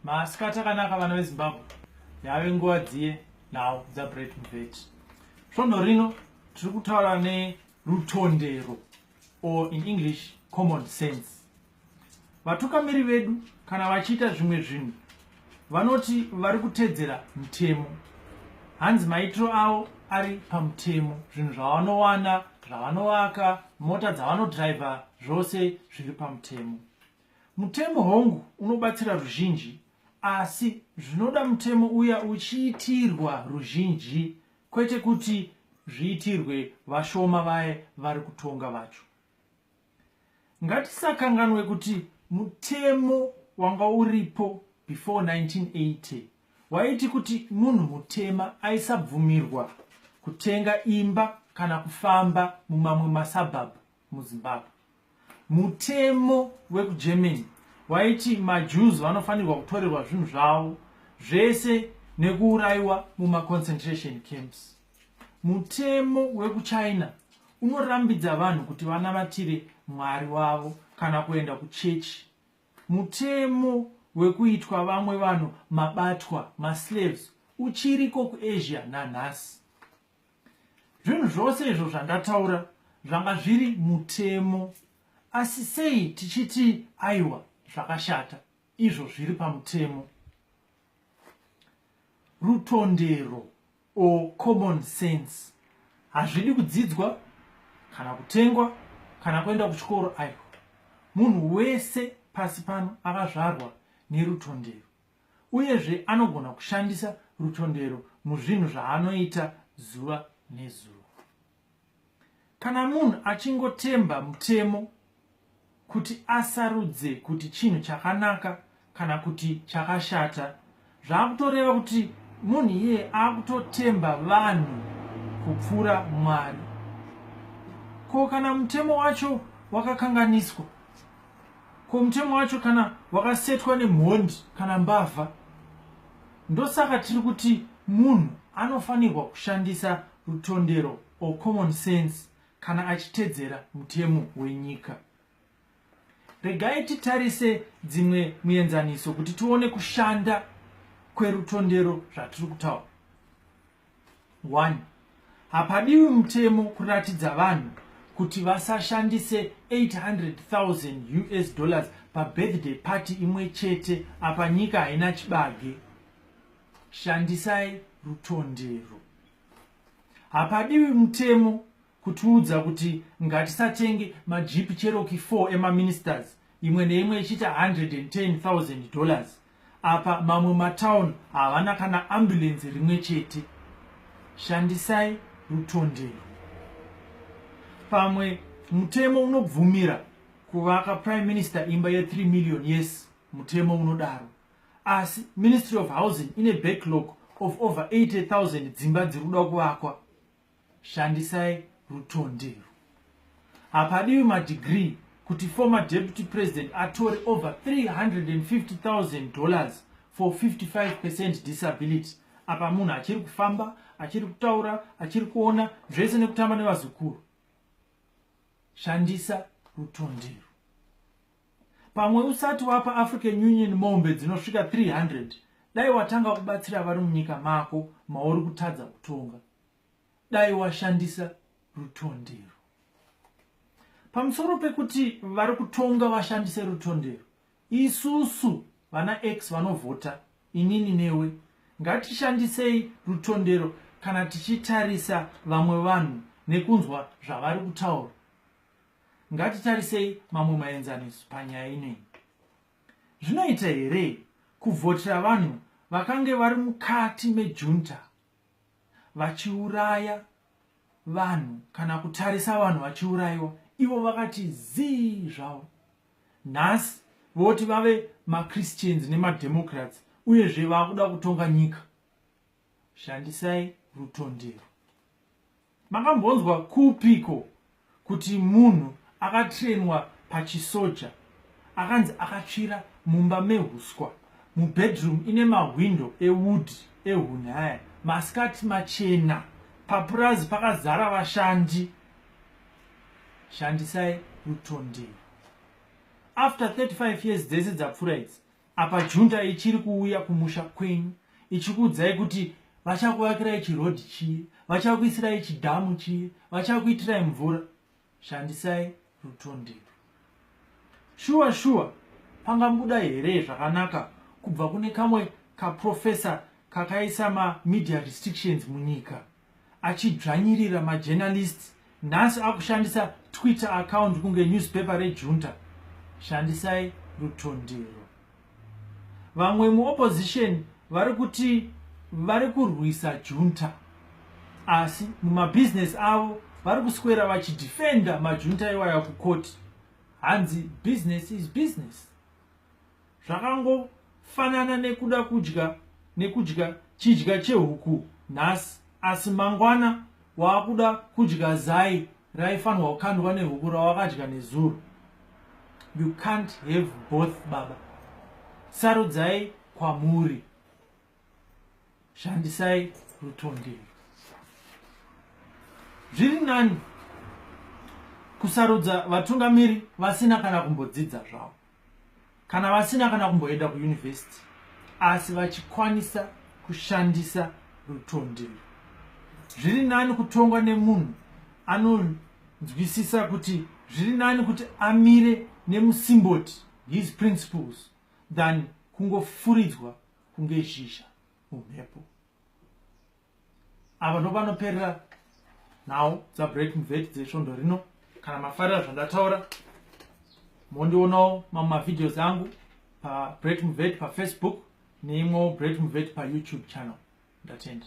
masikati akanaka vana vezimbabwe yave nguva dziye nhau dzabret mubet svondo rino tiri kutaura nerutondero or in english common sense vatukamiri vedu kana vachiita zvimwe zvinhu vanoti vari kutedzera mutemo hanzi maitiro avo ari pamutemo zvinhu zvavanowana zvavanovaka mota dzavanodriver zvose zviri pamutemo Mutemo hongu unobatsira ruzhinji asi zvinoda mutemo uya uchiitirwa ruzhinji kwete kuti zviitirwe vashoma vaye vari kutonga vacho. Ngatisakanganwe kuti mutemo wanga uripo before 1980 waiti kuti munhu mutema aisabvumirwa kutenga imba kana kufamba mumamwe masabhabhu muzimbabwe mutemo wekugermany waiti majews vanofanirwa kutorerwa zvinhu zvavo zvese nekuurayiwa mumaconcentration camps mutemo wekuchina unorambidza vanhu kuti vanamatire mwari wavo kana kuenda kuchechi mutemo wekuitwa vamwe vanhu mabatwa maslaves uchiriko kuasia nanhasi zvinhu zvose izvo zvandataura zvanga zviri mutemo asi sei tichiti aiwa zvakashata izvo zviri pamutemo rutondero or common sense hazvidi kudzidzwa kana kutengwa kana kuenda kuchikoro aiwa munhu wese pasi pano akazvarwa nerutondero uyezve anogona kushandisa rutondero muzvinhu zvaanoita zuva nezuva. Kana munhu achingotemba mutemo kuti asarudze kuti chinhu chakanaka kana kuti chakashata, zvaakutoreva kuti munhu iyeye akutotemba vanhu kupfuura Mwari. Ko kana mutemo wacho wakakanganiswa? Ko mutemo wacho kana wakasetwa nemhondi kana mbavha ndosaka tiri kuti munhu anofanirwa kushandisa rutondero or common sense kana achitedzera mutemo wenyika regai titarise dzimwe muenzaniso kuti tione kushanda kwerutondero zvatiri kutaura 1 hapadiwi mutemo kuratidza vanhu kuti vasashandise 800000 us dollars pabirthday party imwe chete apa nyika haina chibage shandisai rutondero hapadiwi mutemo kutiudza kuti ngatisatenge majeep cheroki 4 emaministers imwe neimwe ichiita 110000 dollars apa mamwe matown havana kana ambulensi rimwe chete shandisai rutondero pamwe mutemo unobvumira kuvaka prime minister imba ye3 million yes mutemo unodaro asi ministry of housing ine backlog of over 80000 dzimba dziri kuda kuvakwa shandisai rutondero hapadiwi madegree kuti former deputy president atore over 350000 dollars for 55 percent disability apa munhu achiri kufamba achiri kutaura achiri kuona zvese nekutamba nevazukuru shandisa rutondero pamwe usati wapa african union mombe dzinosvika 300 dai watanga kubatsira vari munyika mako mauri kutadza kutonga dai washandisa rutondero pamusoro pekuti vari kutonga vashandise rutondero isusu vana x vanovhota inini newe ngatishandisei rutondero kana tichitarisa vamwe vanhu nekunzwa zvavari kutaura ngatitarisei mamwe maenzaniso panyaya inei zvinoita here kuvhotera vanhu vakange vari mukati mejunta vachiuraya vanhu kana kutarisa vanhu vachiurayiwa ivo vakati zii zvavo nhasi voti vave machristians nemademocrats uyezve vakuda kutonga nyika shandisai rutondero Makambonzwa kupiko kuti munhu akatrainwa pachisoja akanzi akatsvira mumba mehuswa mubedroom ine mahwindo ewood ehunhaya masikati machena papurazi pakazara vashandi? Shandisai rutondero. After 35 years dzese dzapfura idzi, apa junta ichiri kuuya kumusha kwenyu ichikuudzai kuti vachakuvakirai chirodhi chii vachakuisirai chidhamu chii vachakuitirai mvura shandisai rutondero shuwa shuwa pangabuda here zvakanaka kubva kune kamwe kaprofesa kakaisa mamedia restrictions munyika achidzvanyirira majournalist nhasi akushandisa twitter account kunge newspaper rejunta shandisai rutondero vamwe muopposition vari kuti vari kurwisa junta asi mumabhizinesi avo vari kuswera vachidefenda majunta iwaya kukoti hanzi business is business zvakangofanana nekuda kudya nekudya chidya chehuku nhasi asi mangwana waakuda kudya zai raifanirwa kukandwa nehuku rawakadya nezuro you can't have both baba sarudzai kwamuri shandisai rutondero zviri nani kusarudza vatungamiri vasina kana kumbodzidza zvavo kana vasina kana kumboenda kuyunivhesiti asi vachikwanisa kushandisa rutondero zviri nani kutongwa nemunhu anonzwisisa kuti zviri nani kuti amire nemusimboti his principles than kungofuridzwa kunge zhizha mumhepo ava ndo vanoperera nhau dzabreak mveti dzesvondo rino kana mafarira zvandataura mondionawo mamwe mavideos angu pabreak mveti pafacebook neimwewo break mveti payoutube channel ndatenda